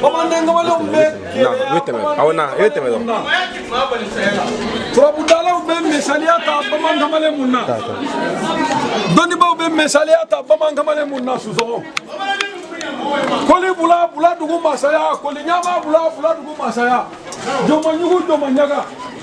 bamanden kamalenw bɛ na i bɛ tɛmɛ aw na i bɛ tɛmɛ dɔrɔn turabudalaw bɛ misaliya ta bamanan kamalen mun na dɔnnibaaw bɛ misaliya ta bamanan kamalen mun na sisɔkɔ koli bula bula dugu masaya koli ɲama bula bula dugu masaya jɔnmaɲugu jɔnmaɲaga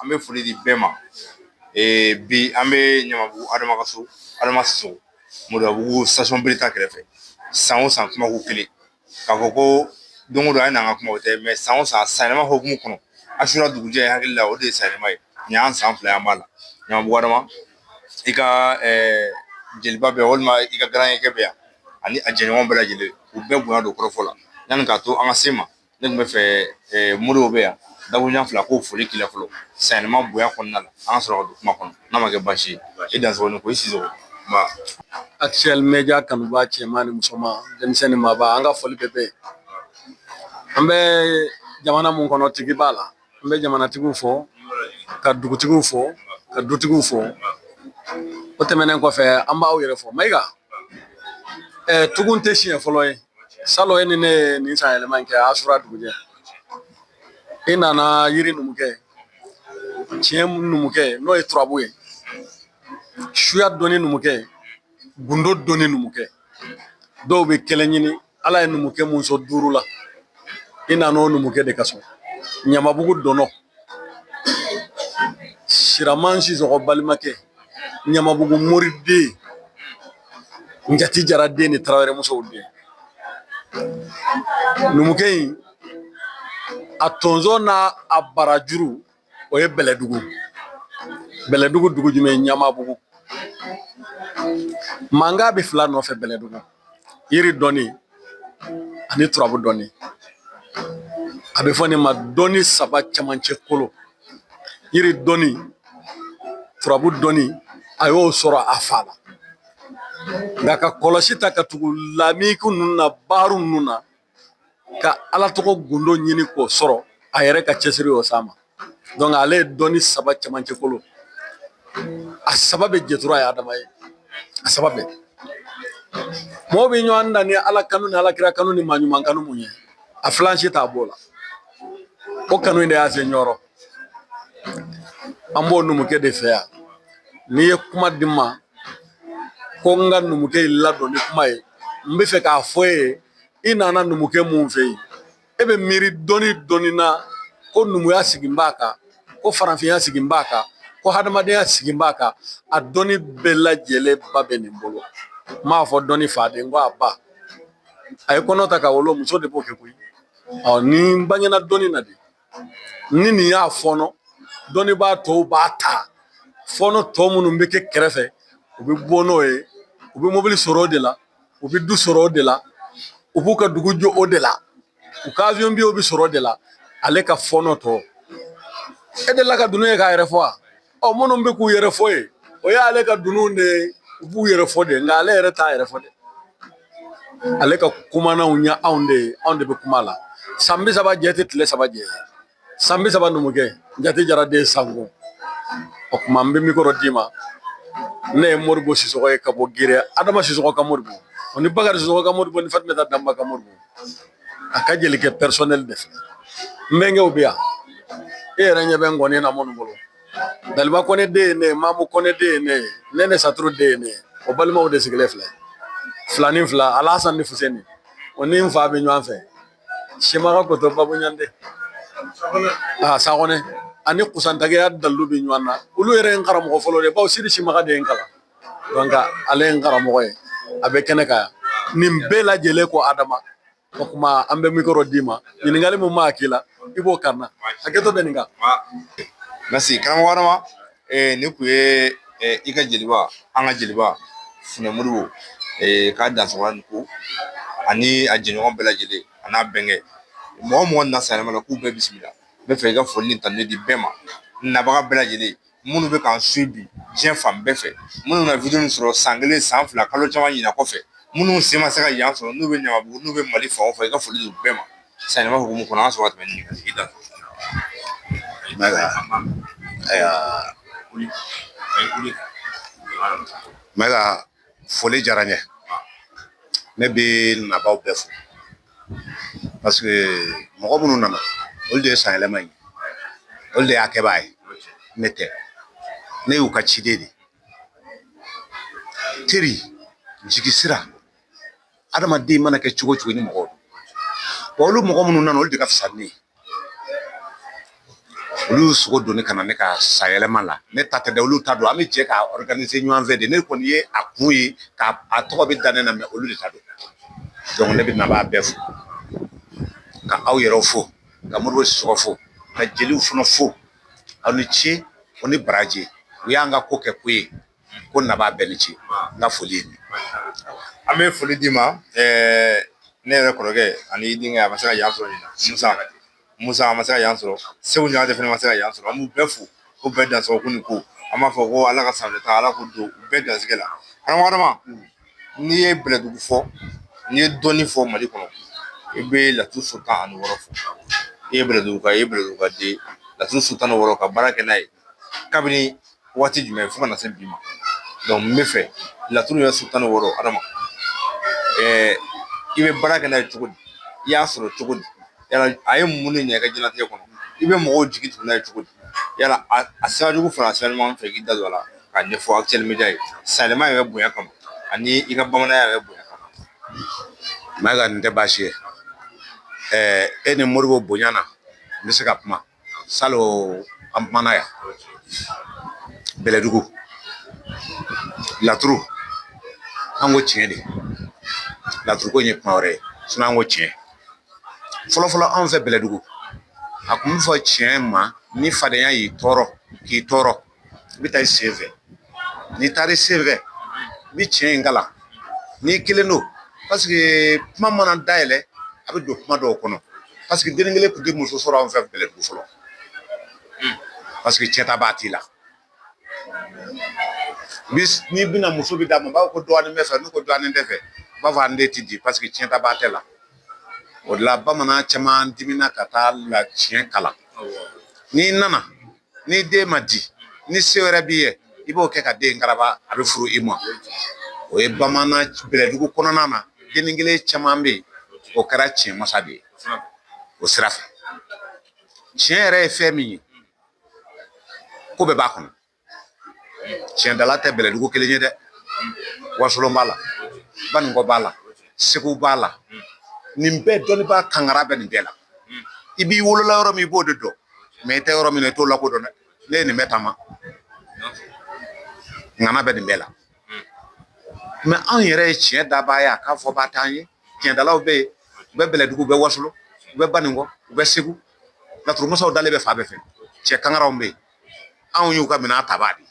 An bɛ foli di bɛɛ ma bi an bɛ ɲamabugu adama ka so moribabugu station bereta kɛrɛfɛ san o san kuma ko kelen k'a fɔ ko don o don an ye n'an ka kuma o tɛ mais san o san sanyɛlɛma hukumu kɔnɔ asura dugujɛ an hakili la o de ye sanyɛlɛma ye nin y'an san fila ye an b'a la ɲamabugu adama i ka jeliba bɛ yan walima i ka garankɛ bɛ yan ani a jɛɲɔgɔn bɛɛ lajɛlen u bɛɛ bonya don kɔrɔfɔ la yanni k'a to an ka se ma ne tun bɛ fɛ moriw bɛ yan dakuruɲɛ fila k'o foli k'i la fɔlɔ sanyɛlɛma bonya kɔnɔna la an ka sɔrɔ ka don kuma kɔnɔ n'a ma kɛ baasi ye i dansɔgɔ ni ko i sisɔkɔ actuel mɛdiya kanubaa cɛman ni musoman denmisɛn ni maaba an ka foli bɛ bɛɛ ye an bɛ jamana mun kɔnɔ tigi b'a la n bɛ jamanatigiw fo ka dugutigiw fo ka dutigiw fo o tɛmɛnen kɔfɛ an b'aw yɛrɛ fo mayiga ɛɛ tugun tɛ siɲɛ fɔlɔ ye salon e ni ne ye nin sanyɛlɛma in kɛ asura dugujɛ i nana yiri numukɛ tiɲɛ numukɛ n'o ye turabu ye suya dɔnni numukɛ gundo dɔnni numukɛ dɔw bɛ kelen ɲini ala ye numukɛ mun sɔn duuru la i nana o numukɛ de ka so ɲamabugu dɔnɔ siraman sisɔkɔ balimakɛ ɲamabugu moriden n jatigi jara den ni tarawele muso den numukɛ in a tonso n'a a barajuru o ye bɛlɛdugu bɛlɛdugu dugu jumɛn ɲamabugu mankan bɛ fila nɔfɛ bɛlɛdugu yiri dɔnni ani turabu dɔnni a bɛ fɔ nin ma dɔnni saba cɛmancɛ kolo yiri dɔnni turabu dɔnni a y'o sɔrɔ a fa la nka ka kɔlɔsi ta ka tugu lamini ninnu na baro ninnu na ka ala tɔgɔ gundo ɲini k'o sɔrɔ a yɛrɛ ka cɛsiri y'o s'a ma donc ale ye dɔnni saba cɛmancɛ kolo a saba bɛɛ jɛtura ye adama ye a saba bɛɛ mɔgɔw bɛ ɲɔgɔn dan ni ala kanu ni alakira kanu ni maa ɲuman kanu mun ye a filan si t'a b'o la o kanu in de y'a se yɔrɔ an b'o numukɛ de fɛ yan n'i ye kuma di n ma ko n ka numukɛ in ladon ni kuma ye n bɛ fɛ k'a fɔ e ye i nana numukɛ mun fɛ yen e bɛ miiri dɔɔnin dɔnni na ko numuya sigin b'a kan ko farafinya sigin b'a kan ko hadamadenya sigin b'a kan a dɔnni bɛɛ lajɛlen ba bɛ nin bolo n m'a fɔ dɔnni fa dɛ ko a ba a ye kɔnɔ ta ka wolo muso de b'o kɛ koyi ɔ nin bangena dɔnni na de ni nin y'a fɔɔnɔ dɔnnibaa tɔw b'a ta fɔɔnɔ tɔ minnu bɛ kɛ kɛrɛfɛ u bɛ bɔ n'o ye u bɛ mobili sɔrɔ o de la u bɛ du sɔrɔ o de la u b'u ka dugu jɔ o de la u ka avion bɛ sɔrɔ o de la ale ka fɔɔnɔ tɔ e delila ka dunun ye k'a yɛrɛ fɔ wa ɔ minnu bɛ k'u yɛrɛ fɔ ye o y'ale ka dununw de ye u b'u yɛrɛ fɔ de nka ale yɛrɛ t'a yɛrɛ fɔ dɛ ale ka kumananw ye anw de ye anw de bɛ kuma la san bi saba jɛ tɛ tile saba jɛ san bi saba numukɛ jate jara den sanko o tuma n bɛ mikoro d'i ma ne ye moribo sisɔkɔ ye ka bɔ gere adama sisɔkɔ ka moribo o ni bakari sisɔkɔ ka moribo ni fatumata danba ka moribo a ka jelikɛ personnel de fɛ n bɛnkɛw bɛ yan e yɛrɛ ɲɛ bɛ ngɔni na minnu bolo daliba kɔnɛ den ye ne ye mamu kɔnɛ den ye ne ye nɛnɛ saturu den ye ne ye o balimaw de sigilen filɛ fila ni fila alasan ni fuseni o ni n fa bɛ ɲɔgɔn fɛ simaga kotɔ baboɲande a sakɔnɛ ani kusantagiya dalu bɛ ɲɔgɔn na olu yɛrɛ ye n karamɔgɔ fɔlɔ de bawo sidi simaga de ye n kalan donc ale ye n karamɔgɔ ye a bɛ kɛnɛ kan yan nin bɛɛ lajɛlen ko adama o tuma an bɛ mikoro d'i ma ɲininkali min b'a hakili la i b'o kari n na hakɛto bɛ nin kan merci karamɔgɔ adama nin kun ye i ka jeliba an ka jeliba funɛ moribo k'a dansɔgɔla ni ko ani a jɛɲɔgɔn bɛɛ lajɛlen a n'a bɛnkɛw mɔgɔ mɔgɔ nana san yɛlɛma la k'u bɛɛ bisimila n bɛ fɛ i ka foli ni tanu di bɛɛ ma nabaga bɛɛ lajɛlen minnu bɛ k'an suivi diɲɛ fan bɛɛ fɛ minnu na video nin sɔrɔ san kelen san fila kalo caman ɲinan kɔfɛ minnu sen ma se ka yan sɔrɔ n'u bɛ ɲamabugu n'u bɛ mali fan o fan i ka foli don bɛɛ ma san yɛlɛma hukumu kɔnɔ an ka sɔrɔ ka tɛmɛn ni ɲininkali i da ayiwa mɛga foli diyara n ye ne bɛ nabaaw bɛɛ fo parce que mɔgɔ minnu nana olu de ye san yɛlɛma ye olu de y'a kɛbaa ye ne tɛ ne y'u ka ciden de ye teri jigi sira adamaden mana kɛ cogo cogo ni mɔgɔw don olu mɔgɔ minnu nana olu de ka fisa ni ne ye olu y'u sogo don ne ka na ne ka san yɛlɛma la ne ta tɛ dɛ olu ta don an bɛ jɛ k'a organiser ɲɔgɔn fɛ de ne kɔni ye a kun ye k'a tɔgɔ bɛ da ne na mais olu de ta don donc ne bɛ nabaa bɛɛ fo ka aw yɛrɛw fo ka moribo sisɔkɔ fo ka jeliw fana fo aw ni ce o ni baraji u y'an ka ko kɛ ko ye ko nabaa bɛɛ ni ce n ka foli an bɛ foli d'i ma ne yɛrɛ kɔrɔkɛ ani denkɛ a ma se ka yan sɔrɔ musa a ma se ka yan sɔrɔ segu ɲagate fana ma se ka yan sɔrɔ an b'u bɛɛ fo ko bɛɛ dansɔgɔ ko ni ko an b'a fɔ ko ala ka sanfɛ taa ala k'o don u bɛɛ garijɛgɛ la adama n'i ye bɛlɛdugu fɔ n'i ye dɔnni fɔ mali kɔnɔ i bɛ laturu so tan ani wɔɔrɔ fɔ i ye bɛlɛdugu i ye bɛlɛdugu ka den laturu so tan wɔɔrɔ ka baara kɛ n'a ye kabini waati jumɛn fo ka na se bi ma n bɛ fɛ laturu yɛrɛ so tan ni wɔɔrɔ adama i bɛ baara kɛ n'a ye cogo di i y'a sɔrɔ cogo di yala a ye mun de ɲɛ i ka diɲɛnatigɛ kɔnɔ i bɛ mɔgɔw jigi tugu n'a ye cogo di yala a sira jugu fara sira ɲuman fɛ k'i da don a la k'a ɲɛfɔ actuel média ye sanɛlɛma yɛrɛ bonya kama ani i ka bamananya yɛrɛ bonya kama mayiga nin tɛ baasi ye e ni modibo bonya na n bɛ se ka kuma salon an kumana yan bɛlɛdugu laturu an ko tiɲɛ de laturu ko in ye kuma wɛrɛ ye sinon an ko tiɲɛ fɔlɔfɔlɔ anw fɛ bɛlɛdugu a kun bɛ fɔ tiɲɛ ma ni fadenya y'i tɔɔrɔ k'i tɔɔrɔ i bɛ taa i sen fɛ n'i taara i sen fɛ i bɛ tiɲɛ in kalan n'i kelen don paseke kuma mana dayɛlɛ a bɛ don kuma dɔw kɔnɔ paseke dennin kelen tun tɛ muso sɔrɔ anw fɛ bɛlɛdugu fɔlɔ paseke cɛn tabaa t'i la n'i binna muso bɛ d'a ma b'a fɔ ko dɔgɔnin bɛ fɛ n'u ko dɔgɔnin tɛ fɛ u b'a fɔ an den tɛ di paseke cɛn tabaa tɛ la o de la bamanan caman dimina ka taa la tiɲɛ kalan n'i nana ni den ma di ni se wɛrɛ b'i ye i b'o kɛ ka den karaba a bɛ furu i ma o ye bamanan bɛlɛdugu kɔnɔna na dennin kelen caman bɛ yen o kɛra tiɲɛ masa de ye o sira fɛ tiɲɛ yɛrɛ ye fɛn min ye ko bɛɛ b'a kɔnɔ tiɲɛdala tɛ bɛlɛdugu kelen ye dɛ wasolon b'a la baninkɔ b'a la segu b'a la nin bɛɛ dɔnnibaa kangara bɛ nin bɛɛ la i b'i wolola yɔrɔ min i b'o de dɔn mɛ i tɛ yɔrɔ min na i t'o lakodɔn dɛ ne ye nin bɛɛ taama ŋana bɛ nin bɛɛ la mɛ anw yɛrɛ ye tiɲɛ dabaa ye a k'a fɔbaa t'an ye tiɲɛdalaw bɛ yen u bɛ bɛlɛdugu u bɛ wasolon u bɛ baninkɔ u bɛ segu laturumasaw dalen bɛ fan bɛɛ fɛ cɛ kangaraw bɛ yen anw y'u ka minɛn tabaa de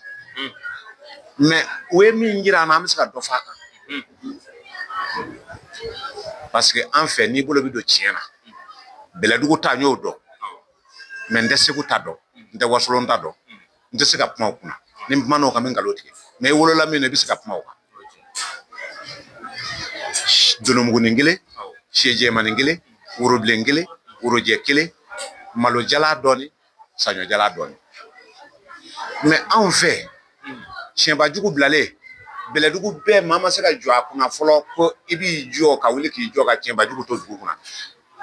mɛ u ye min jira an na an bɛ se ka dɔ fɔ a kan parce que an fɛ n'i bolo bɛ don tiɲɛ na bɛlɛdugu ta n y'o dɔn mɛ n tɛ segu ta dɔn n tɛ wasolon ta dɔn n tɛ se ka kuma o kunna ni n kumana o kan n bɛ nkalon tigɛ mɛ i wolola min na i bɛ se ka kuma o kan jolomugunin kelen sɛ jɛmanin kelen worobilen kelen worojɛ kelen malo jalan dɔɔni saɲɔ jala dɔɔni mais anw fɛ tiɲɛbajugu bilalen bɛlɛdugu bɛɛ maa ma se ka jɔ a kunna fɔlɔ ko i b'i jɔ ka wuli k'i jɔ ka tiɲɛbajugu to dugu kɔnɔ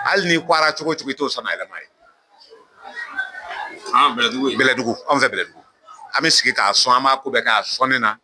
hali n'i kwara cogo cogo i t'o san yɛlɛma ye bɛlɛdugu anw fɛ bɛlɛdugu an bɛ sigi k'a sɔn an b'a ko bɛɛ k'a sɔnni na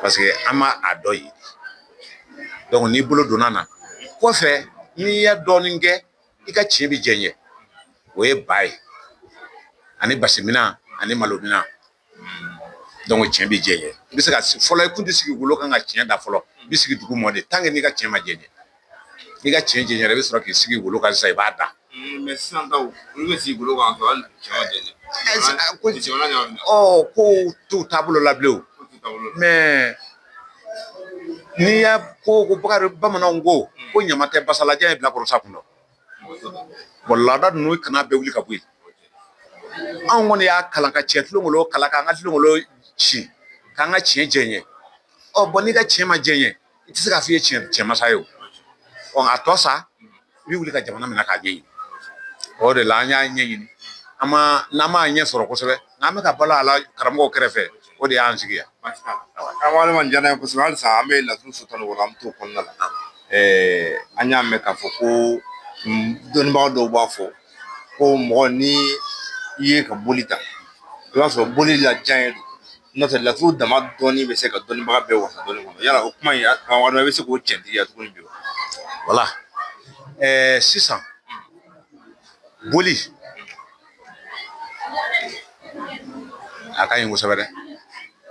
Parce que an ma a dɔ ye donc n'i bolo donna na kɔfɛ n'i ye dɔɔnin kɛ i ka tiɲɛ bɛ jɛɲɛ o ye ba ye ani basiminan ani malominan donc tiɲɛ bɛ jɛɲɛ i bɛ se ka fɔlɔ i kun tɛ sigi wolo kan ka tiɲɛ da fɔlɔ i bɛ sigi dugu mɔ de tant que n'i ka tiɲɛ ma jɛɲɛ N'i ka cɛn jɛɲɛra i bɛ sɔrɔ k'i sigi wolo kan sisan i b'a da. Mais sisan taw olu bɛ sigi golo kan k'a sɔrɔ hali jamana ɲagamina. Ɔ kow t'u taabolo la bilen o. Kow t'u taabolo la. Mais n'i y'a ko ko bakarijan bamananw ko ko ɲama tɛ basa la jɔn ye bilakoro sa kun dɔn. Mɔgɔ t'o dɔn. Bon laada ninnu i kan'a bɛɛ wuli ka bɔ yen. Anw kɔni y'a kalan ka cɛn tulongolo kalan k'an ka tulongolo ci k'an ka cɛn jɛɲɛ. Bon n'i ka cɛn ma jɛɲɛ i tɛ se k'a f'i ye tiɲɛmasa ye o ɔ a tɔ sa i bɛ wuli ka jamana minɛ k'a ɲɛɲini o de la an y'a ɲɛɲini an ma n'an m'a ɲɛ sɔrɔ kosɛbɛ n'an bɛ ka balo a la karamɔgɔw kɛrɛfɛ o de y'an sigi yan an wale man diyara n ye kosɛbɛ halisa an bɛ laturu sɔrɔ o la an bɛ t'o kɔnɔna la an y'a mɛn k'a fɔ ko dɔnnibaga dɔw b'a fɔ ko mɔgɔ ni i ye ka boli ta i b'a sɔrɔ boli la diya ye n'o tɛ laturu dama dɔɔni bɛ se ka dɔnnibaga bɛɛ wasa dɔɔni kɔnɔ yala o kuma in karamɔgɔ i bɛ se k'o cɛntigiya tuguni bi wa wala sisan boli a ka ɲi kosɛbɛ dɛ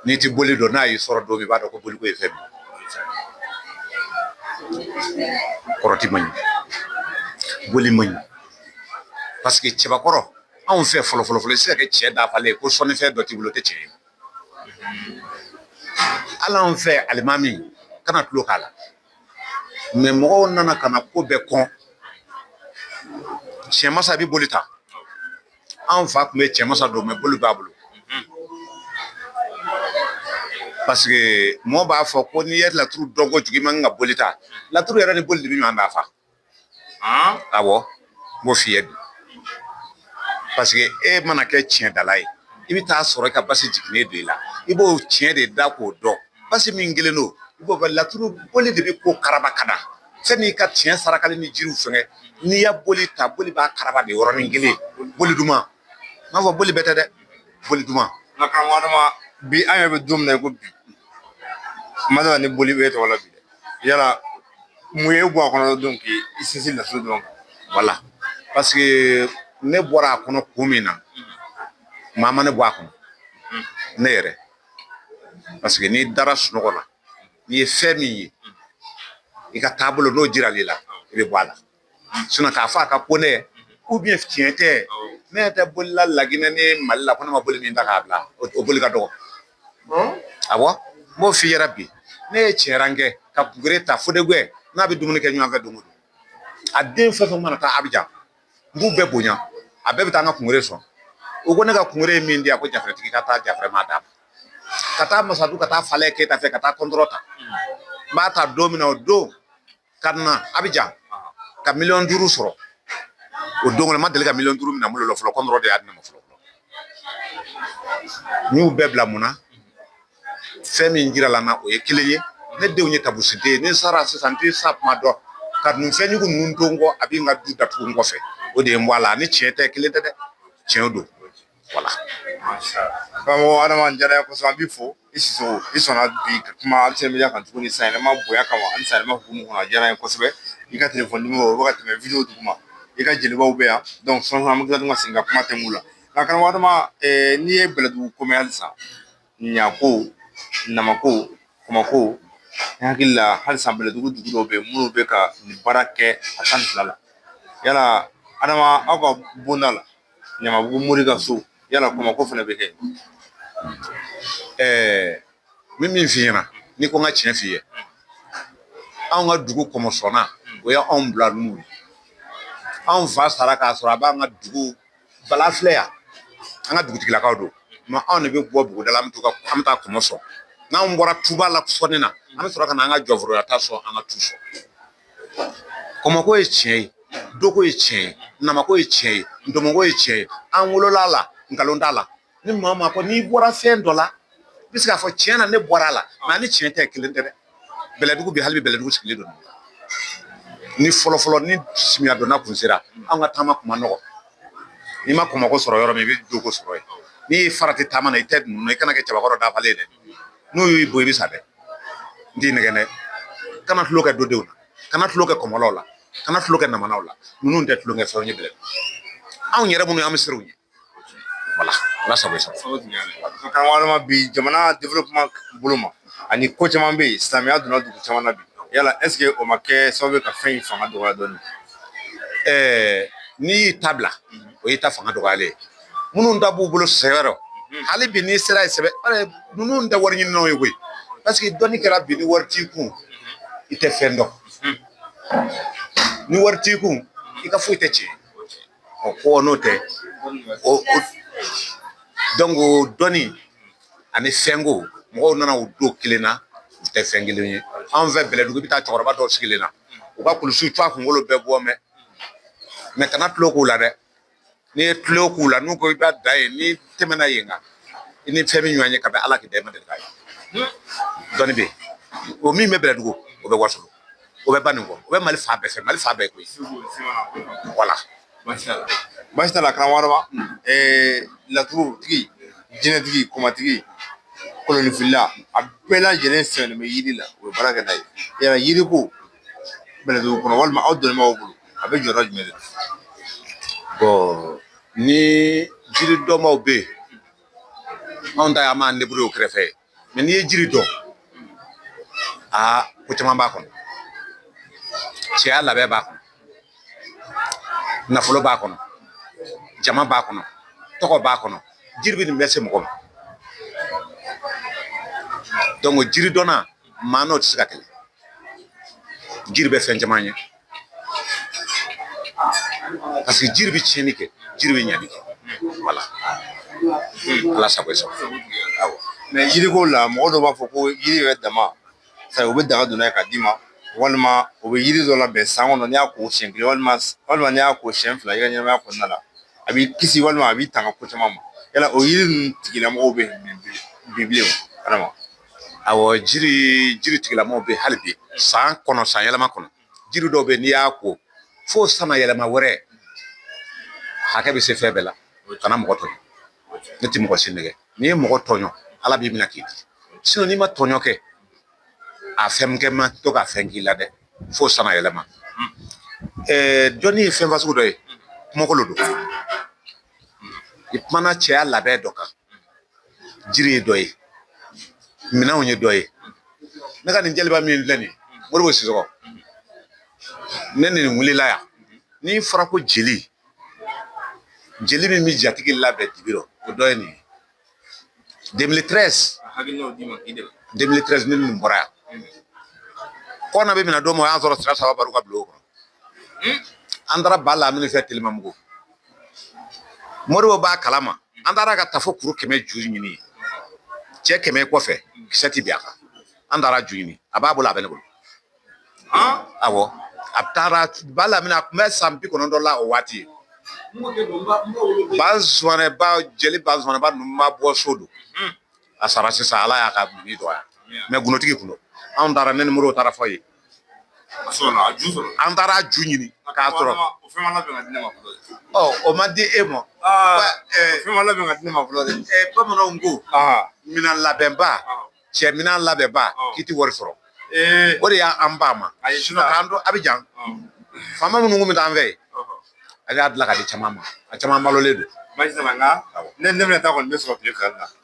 n'i tɛ boli dɔn n'a y'i sɔrɔ don min i b'a dɔn ko boli ko ye fɛn min kɔrɔti man ɲi boli man ɲi parce que cɛbakɔrɔ anw fɛ fɔlɔ fɔlɔ fɔlɔ i bɛ se ka kɛ cɛ dafalen ye ko sɔnnifɛn dɔ t'i bolo o tɛ cɛ ye hali anw fɛ alimami kana tulo k'a la mais mɔgɔw nana ka na ko bɛɛ kɔn tiɲɛmasa bɛ boli ta anw fa tun bɛ tiɲɛmasa don mais boli b'a bolo parce que mɔgɔ b'a fɔ ko n'i ye laturu dɔn kojugu i man kan ka boli ta laturu yɛrɛ ni boli de bɛ ɲɔgɔn dafa awɔ n b'o f'i ye bi parce que e mana kɛ tiɲɛdala ye i bɛ taa sɔrɔ i ka basi jiginnen don i la i b'o tiɲɛ de da k'o dɔn basi min kɛlen don i b'o laturu boli de bɛ ko karaba ka da fɛn n'i ka tiɲɛ sarakali ni jiriw fɛngɛ n'i y'a boli ta boli b'a karaba de yɔrɔnin kelen boli duman n b'a fɔ boli bɛɛ tɛ dɛ boli duman nka karamɔgɔ adama bi an yɛrɛ bɛ don min na i ko bi kuma dɔ la ni boli bɛ tɔgɔ la bi dɛ yala mun y'i bɔ a kɔnɔ don k'i sinsin laturu dɔrɔn kan wala paseke ne bɔra a kɔnɔ kun min na maa ma ne bɔ a kɔnɔ ne yɛrɛ paseke n'i dara sunɔgɔ la n'i ye fɛn min ye i ka taabolo n'o jirala i la i bɛ bɔ a la sinɔn k'a fɔ a ka go ne ye ubiyɛn tiɲɛ tɛ ne tɛ bolila laginɛ ni mali la ko ne ma boli min ta k'a bila o boli ka dɔgɔ a n b'o f'i ɲɛna bi ne ye tiɲɛ kɛ ka kungere ta fo de n'a bɛ dumuni kɛ ɲɔgɔnfɛ don o don a den fɛn fɛn mana taa abijan n b'u bɛɛ bonya a bɛɛ bɛ taa an ka kungere sɔn u ko ne ka kungere ye min di a ko jatigi ka taa jafɛrɛma d'a ma ka taa masadu ka taa falɛ keyita fɛ ka taa kɔntɔrɔn ta n b'a ta don min o don ka na abijan ka miliyɔn duuru sɔrɔ o don kɔnɔ n ma deli ka miliyɔn duuru minɛ n bolo fɔlɔ kɔntɔrɔn de y'a di ne ma fɔlɔ n y'u bɛɛ bila mun na fɛn min jirala n na o ye kelen ye ne denw ye tabusiden ye ni n sara sisan n tɛ sa kuma dɔn ka nin fɛnjugu ninnu to n kɔ a bɛ n ka du datugu n kɔfɛ o de ye n bɔ a la ni tiɲɛ tɛ kelen tɛ dɛ tiɲɛ don wala karamɔgɔ adama a diyara n ye kosɛbɛ an b'i fo i sisɔkɔ i sɔnna bi ka kuma alu senemedia kan tuguni sanyɛlɛma bonya kama ani sanyɛlɛma hukumu kɔnɔ a diyara n ye kosɛbɛ i ka telefɔni nimɔrɔ o bɛ ka tɛmɛ wideyo duguma i ka jelibaw bɛ yan dɔnki sɔɔni an bɛ tila ka segin ka kuma tɛmɛn u la nka karamɔgɔ adama n'i ye bɛlɛdugu ko mɛn halisa ɲako namako kɔmɔko ne hakili la halisa bɛlɛdugu dugu dɔw bɛ yen minnu bɛ ka nin baara kɛ a tan ni fila la yala adama aw ka bonda la ɲamabugu mori ka so yala kɔmɔko fana bɛ kɛ ɛɛ n bɛ min f'i ɲɛna n'i ko n ka tiɲɛ f'i ye anw ka dugu kɔmɔsɔnna o ye anw bila n'u ye anw fa sara k'a sɔrɔ a b'an ka dugu bala filɛ yan an ka dugutigilakaw don mɛ anw de bɛ bɔ buguda la an bɛ to ka an bɛ taa kɔmɔ sɔn n'anw bɔra tuba la sɔnni na an bɛ sɔrɔ ka na an ka jɔforoya ta sɔn an ka tu sɔn kɔmɔko ye tiɲɛ ye doko ye tiɲɛ ye namako ye tiɲɛ ye ndomɔko ye tiɲɛ ye an wolola la nkalon t'a la ni maa o maa ko n'i bɔra fɛn dɔ la i bɛ se k'a fɔ tiɲɛ na ne bɔra a la nka a ni tiɲɛ tɛ kelen tɛ dɛ bɛlɛdugu bi hali bi bɛlɛdugu sigilen don ni fɔlɔfɔlɔ ni samiya donna kun sera an ka taama kun ma nɔgɔ n'i ma kɔmɔko sɔrɔ yɔrɔ min i bɛ doko sɔrɔ yen n'i ye farati taama na i tɛ ninnu i kana kɛ cɛbakɔrɔ dafalen ye dɛ n'u y'i bon i bɛ sa dɛ n t'i nɛgɛn dɛ kana tulon kɛ dodenw na kana tulon kɛ kɔmɔlaw la kana tulon kɛ namanaw la ninnu tɛ tulonkɛ fɛnw ye bɛlɛdugu anw yɛrɛ minnu ye an bɛ siran u ɲɛ voilà ala sago i sago karamɔgɔ adama bi jamana développement bolo ma ani ko caman bɛ yen silamɛya donna dugu caman na bi yala est-ce que o ma kɛ sababu ye ka fɛn in fanga dɔgɔya dɔɔni ɛɛ n'i y'i ta bila o y'i ta fanga dɔgɔyalen ye minnu ta b'u bolo sɛbɛ rɔ hali bi n'i sera yen sɛbɛ ninnu tɛ wariɲininaw ye koyi parce que dɔnni kɛra bi ni wari t'i kun i tɛ fɛn dɔn ni wari t'i kun i ka foyi tɛ tiɲɛ ɔ ko n'o tɛ o dɔnni ani fɛnko mɔgɔw nana u don kelen na u tɛ fɛn kelen ye anw fɛ bɛlɛdugu i bɛ taa cɛkɔrɔba dɔw sigilen na u ka kulusiw to a kunkolo bɛɛ bɔ mɛ kana tulon k'u la dɛ n'i ye tulon k'u la n'u ko i b'a da yen n'i tɛmɛna yen kan i ni fɛn min ɲɔgɔn ye ka bɛn ala k'i dɛmɛ deli ka ye dɔnni bɛ yen o min bɛ bɛlɛdugu o bɛ wasolon o bɛ baninkɔ o bɛ mali fan bɛɛ fɛ mali fan bɛɛ koyi voilà baasi t'a la karamɔgɔ laturutigi jinɛtigi kɔmatigi kolonfila a bɛɛ lajɛlen sɛmɛnen bɛ yiri la o ye baara kɛ n'a ye yiriko bɛlɛdugu kɔnɔ walima aw dɔnni b'aw bolo a bɛ jɔyɔrɔ jumɛn de la bon ni jiri dɔnbaaw bɛ yen anw ta ye an b'an débrouiller o kɛrɛfɛ mɛ n'i ye jiri dɔn aa ko caman b'a kɔnɔ cɛya labɛn b'a kɔnɔ nafolo b'a kɔnɔ jama b'a kɔnɔ tɔgɔ b'a kɔnɔ jiri bɛ nin bɛɛ se mɔgɔ ma donc jiri dɔnna maa n'o tɛ se ka kɛlɛ jiri bɛ fɛn caman ɲɛ parce que jiri bɛ tiɲɛni kɛ jiri bɛ ɲɛni kɛ voilà ala sago i sago awɔ mɛ yiriko la mɔgɔ dɔw b'a fɔ ko yiri yɛrɛ dama sabu u bɛ daga don n'a ye k'a d'i ma walima u bɛ yiri dɔ labɛn san kɔnɔ n'i y'a ko siɲɛ kelen walima walima n'i y'a ko siɲɛ fila i ka ɲɛnamaya kɔnɔna la a b'i kisi walima a b'i tanga ko caman ma yala o yiri ninnu tigilamɔgɔw bɛ bi bilen o adama Awɔ jiri jiri tigilamɔgɔw bɛ hali bi san kɔnɔ san yɛlɛma kɔnɔ jiri dɔw bɛ yen n'i y'a ko fo san yɛlɛma wɛrɛ hakɛ bɛ se fɛn bɛɛ la kana mɔgɔ tɔɲɔn ne tɛ mɔgɔ si nɛgɛn n'i ye mɔgɔ tɔɲɔn ala b'i minɛ k'i di n'i ma tɔɲɔn kɛ a fɛn kɛ man to ka fɛn k'i la dɛ fo san yɛlɛma dɔnni ye fɛn fasugu dɔ ye kumakolo don i kumana cɛya labɛn dɔ kan jiri ye dɔ ye minɛnw ye dɔ ye ne ka nin jeliba min filɛ nin ye moribo sisɔgɔ ne ni nin wulila yan n'i fɔra ko jeli jeli min bɛ jatigi labɛn dibi rɔ o dɔ ye nin ye demili tɛrɛsi demili tɛrɛsi ne ni nin bɔra yan kona bɛ minɛ don min o y'an sɔrɔ sira saba baru ka bulon kɔnɔ an taara ba lamini fɛ telimabugu moribo b'a kalama an taara ka taa fo kuru kɛmɛ ju ɲini cɛ kɛmɛ kɔfɛ kisɛ ti bin a kan an taara ju ɲini a b'a bolo a bɛ ne bolo awɔ a taara ba lamini a tun bɛ san bi kɔnɔntɔn la o waati bazumanaba jeli bazumanaba ninnu ma bɔ so don a sara sisan ala y'a ka bi dɔgɔya mɛ gunotigi kun don anw taara ne ni moribo taara a fɛ yen an taara ju ɲini k'a sɔrɔ o ma di e ma bamananw ko minɛn labɛnba cɛ minɛn labɛnba k'i tɛ wari sɔrɔ o de y'an ba ma k'an to abijan faama minnu kun bɛ taa an fɛ a y'a dilan ka di caman ma a caman balolen don ne bɛna taa kɔni ne sɔrɔ tile fila la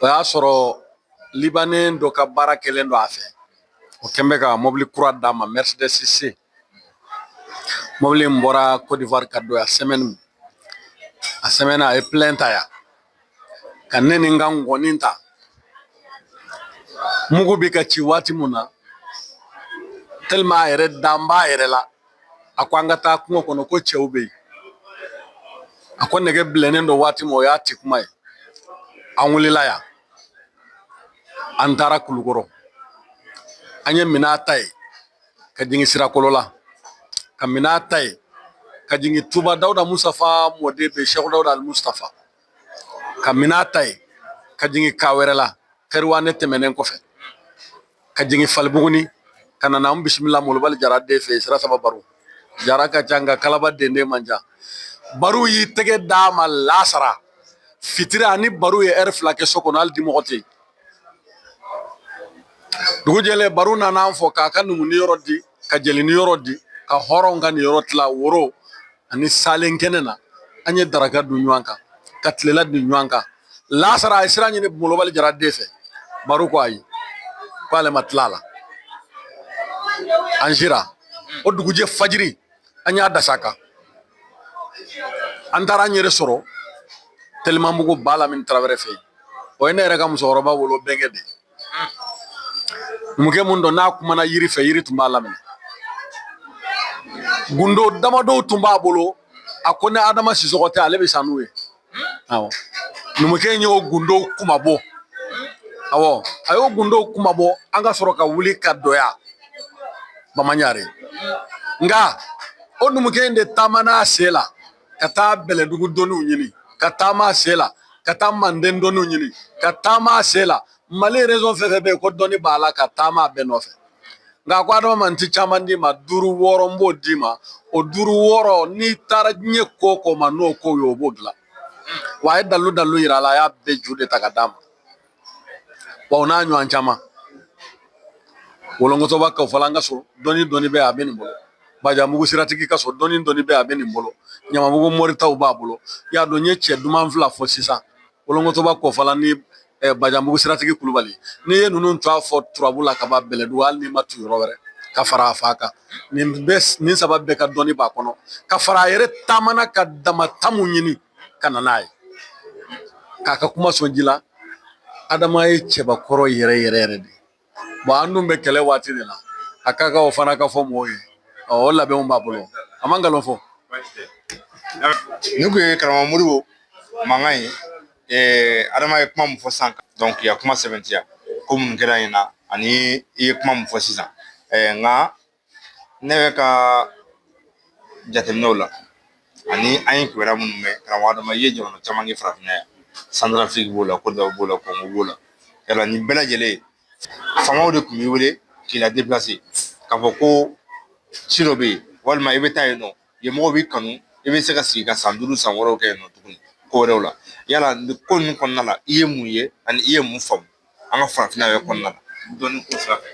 o y'a sɔrɔ libanɛ dɔ ka baara kɛlen don a fɛ o kɛn bɛ ka mɔbili kura d'a ma mercedes mɔbili in bɔra côte d'ivoire ka don yan a semaine a ye plein ta yan ka ne ni n ka ngɔni ta mugu bɛ ka ci waati min na tellement a yɛrɛ dan b'a yɛrɛ la a ko an ka taa kungo kɔnɔ ko cɛw bɛ yen a ko nɛgɛ bilennen don waati min o y'a ti kuma ye an wulila yan an taara kulukɔrɔ an ye minɛn ta yen ka jigin sirakɔrɔla ka minɛn ta yen ka jigin tuba dawuda mustafa mɔden bɛ seku dawuda alimustafa ka minan ta yen ka jigin kawɛrɛla kɛriwanɛ tɛmɛnen kɔfɛ ka jigin falibuguni ka na n'an bisimila molobali jara den fɛ yen sira saba baru jara ka ca nka kalaba den den man ca baru y'i tɛgɛ d'a ma lasara fitiri an ni baru ye ɛri fila kɛ so kɔnɔ hali dimɔgɔ tɛ yen dugu jɛlen baru nana an fo k'a ka numu niyɔrɔ di ka jeli niyɔrɔ di ka hɔrɔnw ka niyɔrɔ tila woro ani salen kɛnɛ na an ye daraka dun ɲɔgɔn kan ka tilela dun ɲɔgɔn kan lasara an ye sira ɲini molobali jara den fɛ baru ko ayi k'ale ma tila a la an sira o dugujɛ fajiri an y'a da sira kan an taara an yɛrɛ sɔrɔ telimabugu ba lamini tarawele fɛ yen o ye ne yɛrɛ ka musokɔrɔba wolo bɛnkɛ de ye numukɛ min don n'a kumana yiri fɛ yiri tun b'a laminɛ gundo damadɔw tun b'a bolo a ko ni adama sisɔgɔ tɛ ale bɛ sa n'o ye awɔ numukɛ in y'o gundow kuma bɔ awɔ a y'o gundow kuma bɔ an ka sɔrɔ ka wuli ka dɔgɔya bamaɲare nka o numukɛ in de taamana a sen la ka taa bɛlɛdugu dɔnniw ɲini ka taama a sen la ka taa manden dɔnniw ɲini ka taama a sen la mali région fɛn fɛn bɛ yen ko dɔnni b'a la ka taama a bɛɛ nɔfɛ nka ko adama ma n ti caman d'i ma duuru wɔɔrɔ n b'o d'i ma o duuru wɔɔrɔ n'i taara diɲɛ ko o ko ma n'o ko ye o b'o dilan wa a ye dalu dalu yira a la a y'a bɛɛ ju de ta ka d'a ma wa o n'a ɲɔgɔn caman wolonkɔtɔba kɔfalan ka so dɔnni dɔnni bɛɛ a bɛ nin bolo bajamugu siratigi ka so dɔnni dɔnni bɛɛ a bɛ nin bolo ɲamabugu mori taw b'a bolo i y'a dɔn n ye cɛ duman fila fɔ sisan wolonkɔtɔba kɔfalan ni bajamugu siratigi kulubali n'i ye ninnu tɔgɔ fɔ turabu la ka ban bɛlɛdugu hali n'i ma taa yɔrɔ wɛrɛ ka fara a fa kan nin bɛɛ nin saba bɛɛ ka dɔnni b'a kɔnɔ ka fara a yɛrɛ taamana k'a dama ta mun ɲini ka na n'a ye k'a ka kuma sɔn ji la adama ye cɛbakɔrɔ yɛrɛ yɛrɛ yɛrɛ de ye an dun bɛ kɛlɛ waati de la a ka kan o fana ka fɔ mɔgɔw ye o labɛnw b'a bolo a man galon fɔ ni kun ye karamɔgɔ moribo mankan ye adama ye kuma min fɔ sisan donc i y'a kuma sɛbɛntiya ko mun kɛra yen na ani i ye kuma min fɔ sisan nka ne bɛ ka jateminɛw la ani an ye kibaruya minnu mɛn karamɔgɔ adama i ye jamana caman kɛ farafinna yan Centrafrique b'o la Côte d'Ivoire b'o la Congo b'o la yala nin bɛɛ lajɛlen faamaw de tun b'i wele k'i la déplacer k'a fɔ ko ci dɔ bɛ yen walima i bɛ taa yen nɔ yen mɔgɔw b'i kanu i bɛ se ka sigi ka san duuru san wɔɔrɔw kɛ yen nɔ tuguni ko wɛrɛw la yala nin ko ninnu kɔnɔna la i ye mun ye ani i ye mun faamu an ka farafinna yɛrɛ kɔnɔna na dɔnni ko sira fɛ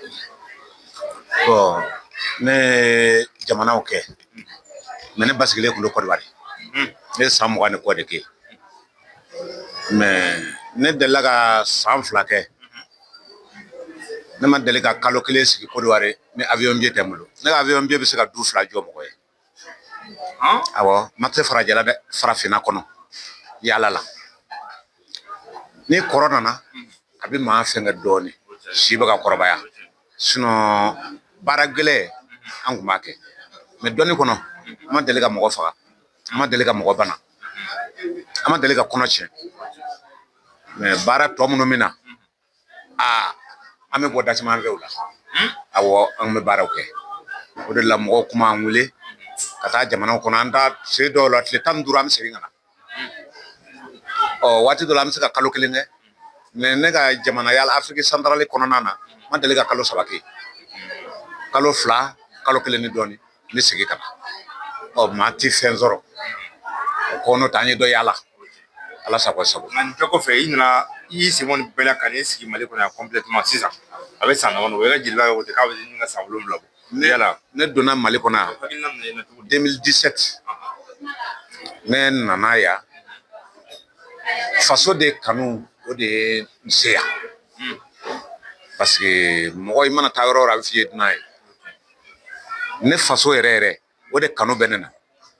ne ye jamanaw kɛ mais ne basigilen tun bɛ Côte d'Ivoire ne ye san mugan ni kɔ de kɛ mais ne delila ka san fila kɛ ne ma deli ka kalo kelen sigi Côte d'Ivoire ni avion billet tɛ n bolo ne ka avion billet bɛ se ka du fila jɔ mɔgɔ ye awɔ mais a tɛ farajɛla dɛ farafinna kɔnɔ yala la ni kɔrɔ nana a bɛ maa fɛn kɛ dɔɔnin si bɛ ka kɔrɔbaya sinon baara gɛlɛn an kun b'a kɛ mais dɔnni kɔnɔ an ma deli ka mɔgɔ faga an ma deli ka mɔgɔ bana an ma deli ka kɔnɔ tiɲɛ mais baara tɔ minnu bɛ na aa an bɛ bɔ da siyaman fɛ o la awɔ an bɛ baaraw kɛ o de la mɔgɔw kun b'an wele ka taa jamanaw kɔnɔ an taa se dɔw la tile tan ni duuru an bɛ segin ka na ɔ waati dɔ la an bɛ se ka kalo kelen kɛ mais ne ka jamana yala Afrique centrale kɔnɔna na n ma deli ka kalo saba kɛ kalo fila kalo kelen ni dɔɔnin n bɛ segin ka na ɔ maa tɛ fɛn sɔrɔ o ko n'o tɛ an ye dɔ yaala ala sago sago nka nin bɛɛ kɔfɛ i nana i y'i sen bɔ nin bɛɛ la ka n'i sigi mali kɔnɔ yan sisan a bɛ san damadɔ bɔ i ka jeliya ye o tɛ k'a bɛ ɲini ka san wolonwula bɔ ne yala ne donna mali kɔnɔ yan hakilina nana i la cogo di ne nana yan faso de kanu o de ye n se yan paseke mɔgɔ i mana taa yɔrɔ o yɔrɔ a bɛ f'i ye dunan ye ne faso yɛrɛ yɛrɛ o de kanu bɛ ne na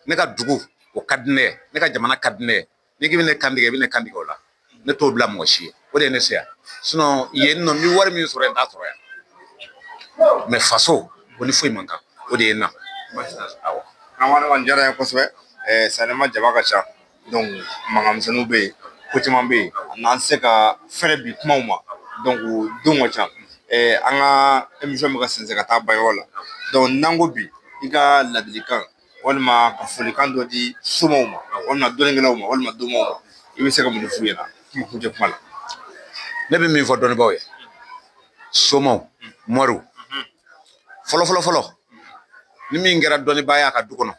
ne ka dugu o ka di ne ye ne ka jamana ka di ne ye n'i k'i bɛ ne kan tigɛ i bɛ ne kan tigɛ o la ne t'o bila mɔgɔ si ye o de ye ne se yan sinon yen nɔ n bɛ wari min sɔrɔ yen n t'a sɔrɔ yan mɛ faso o ni foyi man kan o de ye n na awɔ a diyara n ye kosɛbɛ sanni ma jama ka ca mankan misɛnninw bɛ yen ko caman bɛ yen a n'an se ka fɛrɛ bi kumaw ma donc don ka ca an ka émission bɛ ka sɛnsɛn ka taa ban yɔrɔ la donc n'an ko bi i ka ladilikan walima ka folikan dɔ di somaw ma walima dɔnnikɛlaw ma walima domaw ma i bɛ se ka mun f'u ɲɛna kuma kuncɛ kuma la ne bɛ min fɔ dɔnnibaw ye somaw mɔriw fɔlɔ fɔlɔ ni min kɛra dɔnnibaa ye a ka du kɔnɔ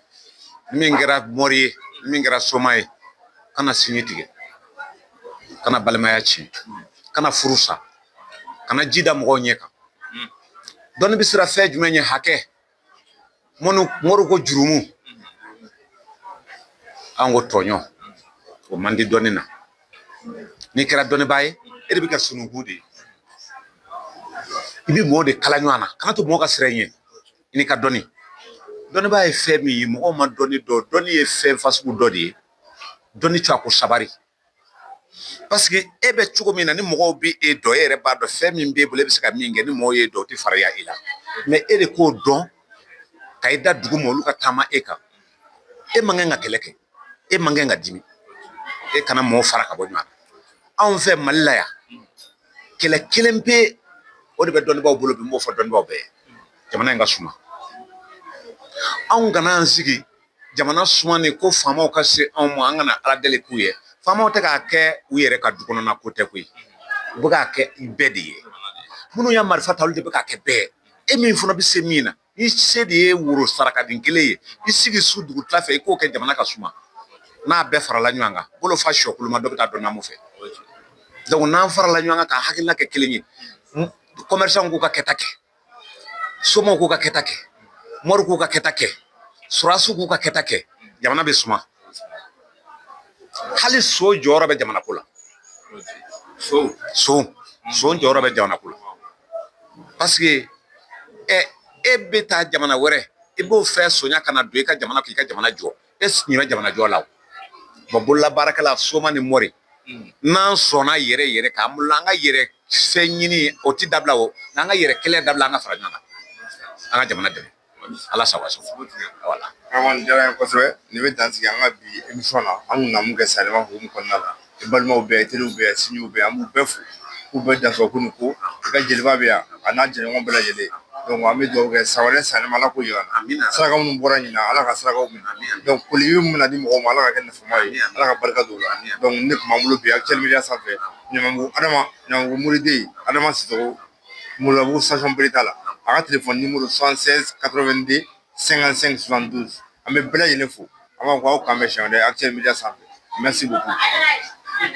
ni min kɛra mɔri ye ni min kɛra soma ye kana sinji tigɛ kana balimaya tiɲɛ kana furu sa kana ji da mɔgɔw ɲɛ kan dɔnni bɛ siran fɛn jumɛn ɲɛ hakɛ mɔri ko jurumu an ko tɔɲɔ o man di dɔnni na n'i kɛra dɔnnibaa ye e de bɛ kɛ sununkun de ye i bɛ mɔgɔw de kala ɲɔgɔn na kana to mɔgɔ ka siran i ɲɛ i n'i ka dɔnni dɔnnibaa ye fɛn min ye mɔgɔw ma dɔnni dɔn dɔnni ye fɛn fasugu dɔ de ye dɔnni tɛ a ko sabali paseke e bɛ cogo min na ni mɔgɔw bɛ e dɔn e yɛrɛ b'a dɔn fɛn min b'e bolo e bɛ se ka min kɛ ni mɔgɔw y'e dɔn o tɛ farinya i la mɛ e de k'o dɔn ka i da dugu ma olu ka taama e kan e man kan ka kɛlɛ kɛ e man kan ka dimi e kana mɔgɔ fara ka bɔ ɲɔgɔn na anw fɛ mali la yan kɛlɛ kelen pe o de bɛ dɔnnibaaw bolo bi n b'o fɔ dɔnnibaaw bɛɛ ye jamana in ka suma anw kana an sigi jamana sumani ko faamaw ka se anw ma an ka na ala deli k'u ye faamaw tɛ k'a kɛ u yɛrɛ ka du kɔnɔna ko tɛ koyi u bɛ k'a kɛ bɛɛ de ye minnu y'a marifa ta olu de bɛ k'a kɛ bɛɛ ye e min fana bɛ se min na i se de ye woro saraka den kelen ye i sigi su dugu tila fɛ i k'o kɛ jamana ka suma n'a bɛɛ farala ɲɔgɔn kan bolo fa sɔ koloma dɔ bɛ taa dɔ namu fɛ donc n'an farala ɲɔgɔn kan ka hakilina kɛ kelen ye kɔmɛrisanw k'u ka kɛta kɛ somaw k'u ka kɛta kɛ moriw k'u ka kɛta kɛ sɔrɔdasiw k'u ka kɛta kɛ jamana bɛ suma hali so jɔyɔrɔ bɛ jamana ko la so so jɔyɔrɔ bɛ jamana ko la parce que ɛ e bɛ taa jamana wɛrɛ i b'o fɛn sonya ka na don i ka jamana k'i ka jamana jɔ e ɲinɛ jamana jɔ la o bololabaarakɛla soma ni mɔri n'an sɔnna yɛrɛ yɛrɛ k'an bolo an ka yɛrɛ fɛn ɲini o ti dabila o n'an ka yɛrɛ kɛlɛ dabila an ka fara ɲɔgɔn kan an ka jamana dɛmɛ Ala sago kosɛbɛ nin bɛ dan sigi an ka bi imi na an na kɛ sa kɔnɔna la i balimaw bɛɛ teri bɛ sin bɛ an bɛɛ fo k'u bɛ dan ko ko ka jeliba bɛ yan a n'a jɛ bɛɛ lajɛlen an bɛ jɔ kɛ sa wɛrɛ san ala ko saraka minnu bɔra ɲin ala ka saraka koli minɛ di mɔgɔ ma ala ka kɛ ye ala ka barika don la ne tun bolo bi a cɛya sanfɛ ɲa adama ɲa muruden adama sago Malobu sasɔnbili t'a la a ka tile fɔoni muru san katoden sɛgɛn sen filanan duuru an bɛ bɛɛ lajɛlen fo an b'a fɔ aw kanan bɛ si a cɛ mi sanfɛ mɛ segu